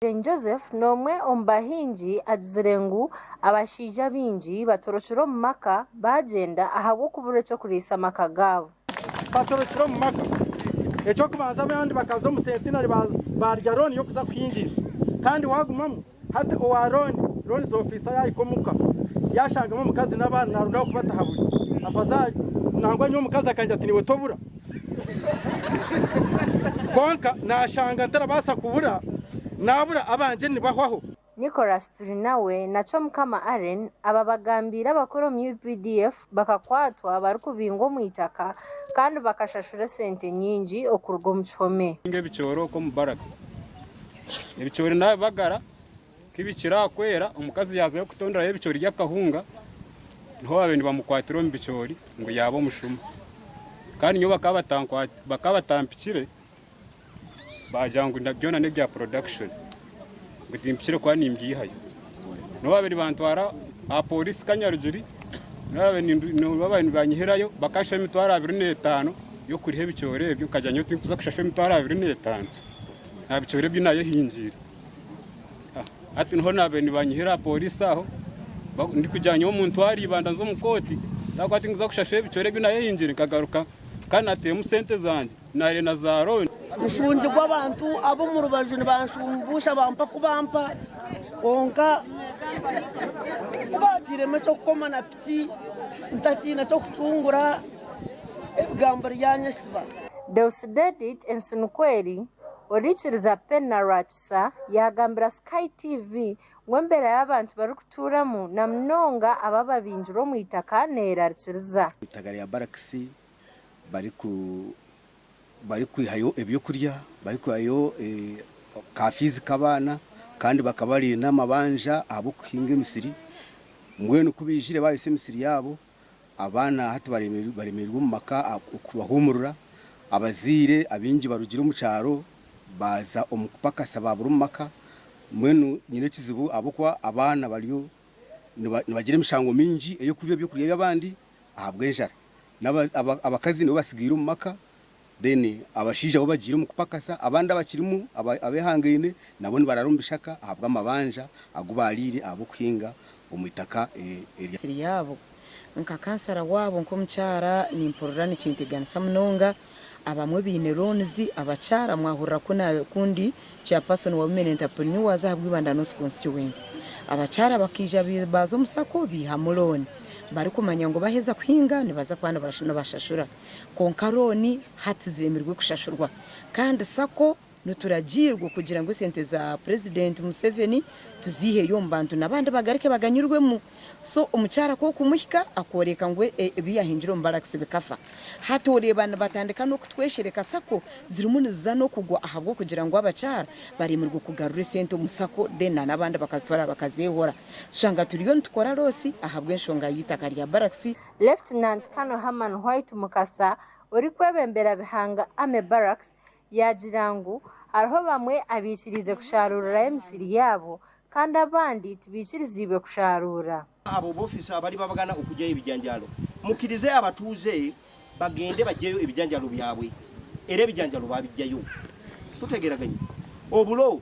Omugyeni Joseph n'omwe omu bahingi agizire ngu abashaija baingi batorokire omu maka baagyenda ahabw'okubura eky'okuriisa amaka gaabo. Batorokire omu maka. Eky'okubanza abandi bakaza omu sentinari baarya rooni y'okuza kuhingiisa kandi waagumamu hati owa rooni, loans officer, yaahika omu ka yaashangamu omukazi n'abaana naarondaho kubataha buri. Afazaari nangwa nyowe omukazi akangira ati niiwe tobura. Kwonka naashanga ntarabaasa kubura, naabura abangye nibahwaho. Nicholas Turinawe na Chomukama Allen ababagambiire abakora omu updf bakakwatwa barikubingwa omu itaka kandi bakashashura esente nyingi okuruga omu kihome. Ebicoori okwo omu barracks. Ebicoori naabibagara Ku bikirakwera omukazi yaazayo kutonderayo ebicoori by'akahunga, niho baabaire nibamukwatira omu bicoori ngu yaaba omushuma. Kandi nyowe bakaba bakaba batampikire, baagira ngu byona n'ebya production, ngu timpikire kuba nimbyihayo. Niho baabaire nibantwara aha pooriisi Kanyarugiri, baabaire nibanyihirayo bakashaho emitwaro abiri n'etaano y'okuriha ebicoori ebyo, nkagira ngu nyowe tinkuza kushashwa emitwaro abiri n'etaano aha bicoori ebi naayehingiire. Hati niho naabaire nibanyiha aha pooriisi aho ndikugira ngu omuntu nyowe ariiba naaza omu kooti ahabw'okuba tinkuza kushashura ebicwera ebi naayeyingire nkagaruka kandi naatairemu sente zangye naare na zaarooni. Nshungirwe abantu ab'omu rubaju nibanshumbuusha bampa ku bampa kwonka ku baatairemu eky'okukoma na piki ntakiine ky'okucungura ebigambo ryanyesiba. Deusdedit Ensinukweri Orikiriza pe na rwakisa yagambira Sky TV ngu embera y'abantu barikuturamu na munonga abo ababingirwe omu itaka neyerarikiriza. Itaka rya barakisi barikwihayo ebyokurya, barikwihayo ka fiizi k'abaana kandi bakaba bari n'amabanja ahabw'okuhinga emisiri mbwenu kubaijire bayotsya emisiri yaabo Abaana hati baremereirwe omu maka okubahuumurira. Abazaire abaingi barugire omu kyaro baaza omu kupakasa baabura omu maka. Mbwenu nyine ekizibu ahabw'okuba abaana bariyo nibagira emishango mingi ey'okwiba eby'okurya by'abandi ahabw'enjara. Abakazi nibo batsigaire omu maka. Then abashaija abu bagiire omu kupakasa, abandi abakirimu abehangaine nabo nibarara omu bishaka ahabw'amabanja agu baariire ahabw'okuhinga omu itaka erya. Eryabo. Nka kansara waabo nk'omukyara nimpurira nikinteganisa munonga. Abamwe baine loans, abakyara mwahurira ku na ku ndi Chairperson wa Women Entrepreneurs aha Bwibanda North Constituency. Abakyara bakaija baaza omu sacco baihamu loan barikumanya ngu baheza kuhinga nibaza kuba nibashashura. kwonka looni hati zeemirwe kushashurwa kandi sacco nituragiirwa okugira ngu esente za purezidenti Museveni tuziiheyo omu bantu n'abandi bagaruke baganyurwemu so omukyara ku okumuhika akooreeka ngu ebi yaahingire omu barakisi bikafa hati oreeba nibatandika n'okutweshereka sacco zirimu niziza n'okugwa ahabw'okugira ngu abakyara bareemirwe kugarura esente omu sacco then na n'abandi bakazitwara bakazeehora tushanga turiyo nitukora loosi ahabw'enshonga y'eitaaka rya barakisi. Lieutenant Colonel Herman White Mukasa orikwebembera Bihanga Army Barracks yaagira ngu hariho bamwe abaikiriize kusharuurirayo emisiri yaabo kandi abandi tibaikiriziibwe kusharuura. Abo boofiisa abariba bagana okugyayo ebijanjaaro mukirize abatuuze bagende bagyeyo ebijanjaaro byabwe era ebijanjaaro baabigyayo tutegeraganye. Obulo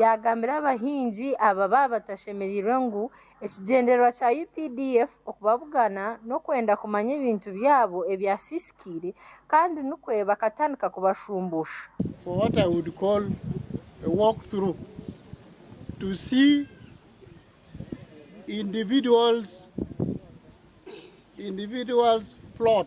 Yaagambira abahingi aba baaba batashemereirwe ngu ekigyendererwa kya updf okubabugana n'okwenda kumanya ebintu byabo ebyasiisikaire kandi nikwo bakatandika kubashumbuusha. for what I would call a walk through to see individuals individuals plot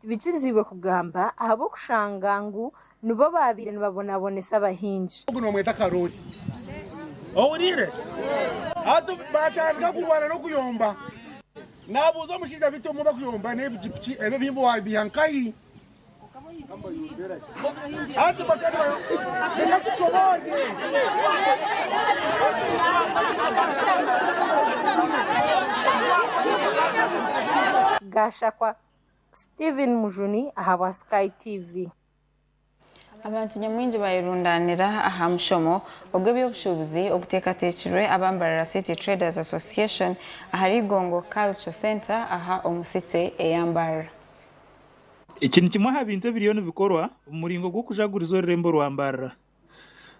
Tibikirizibwe kugamba ahabw'okushanga ngu nibo baabaire nibabonabonesa abahingi. Ogu nibamweta Karooli. Ohuriire? Hati baatandika kurwana n'okuyomba. Naabuuza omushaija biti omwe bakuyomba n'ebiji piki ebyo ebihimba waabiiha nkahi? Hati bakaba nibayomba. Reka tucoboorye. Gashakwa Steven Mujuni ahabwa Sky TV. Abantu nyamwingi bayerundaanira aha mushomo ogw'eby'obushuubuzi oguteekateekirwe aba Mbarara City Traders Association ahari Igongo Culture Centre aha omu City eya Mbarara. Eki ni kimwe aha bintu ebiriyo nibikorwa omu muringo gw'okujaguriza orurembo rwa Mbarara.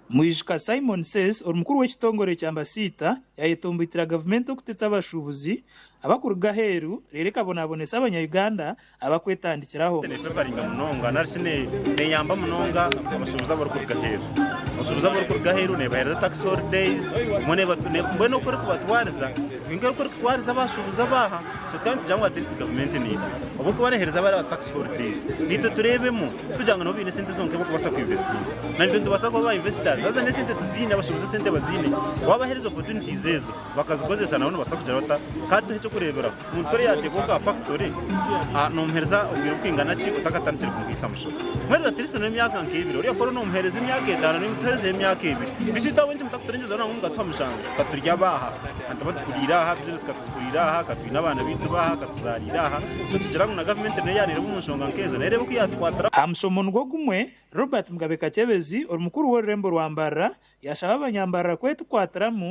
Mwijuka Simon Says orumukuru w'ekitongore kya Ambasiita yayetomboitira gavumenti okutetsa abashuubuzi abakuruga aheeru reero ekabonabonesa abanya Uganda abakwetandikiraho. Nefevaringa munonga nari shi neyamba munonga abashubuzi abarikuruga aheeru. Abashubuzi abarikuruga aheeru nebahereza tax holidays, mbwenu oku erikubatwariza tihaine nka oku erikutwariza abashubuzi abaaha. So tukaba nitugira ngu atleast gavumenti neitwe ahabw'okuba nehereza bariya ba tax holidays neitwe tureebemu. Kugira ngu nabo baine esente zonka ebi barikubaasa kweinvestinga. Na naitwe nitubaasa kuba ba investors. Haza n'esente tuziine, abashobozi esente baziine, waabaheereza opportunities ezo bakazikozesa nabo nibabaasa kugira bata? Ka tuhe eky'okureeberaho. Omuntu kuri yaateekaho ka factory, noomuheereza obwire bwingana ki otakatandikire kumuhaisa mushoro? Muheereze at least noba emyaka nk'ebiri. Ori akora onoomuheereza emyaka etaano naiwe mutuheerezeho emyaka ebiri. Beitu itwe ahabw'enki mutakuturiingiza ngu mukatuha mushanju? Ka turi abaaha? Ka nituba tukuriire aha, business ka tuzikuriire aha, ka twine abaana baitu baaha? Aha mushomo nigwo gumwe, Robert Mugabe Kakyebezi, ori mukuru w'orurembo rwa Mbarara, yashaba abanyambarara kwetukwatiramu,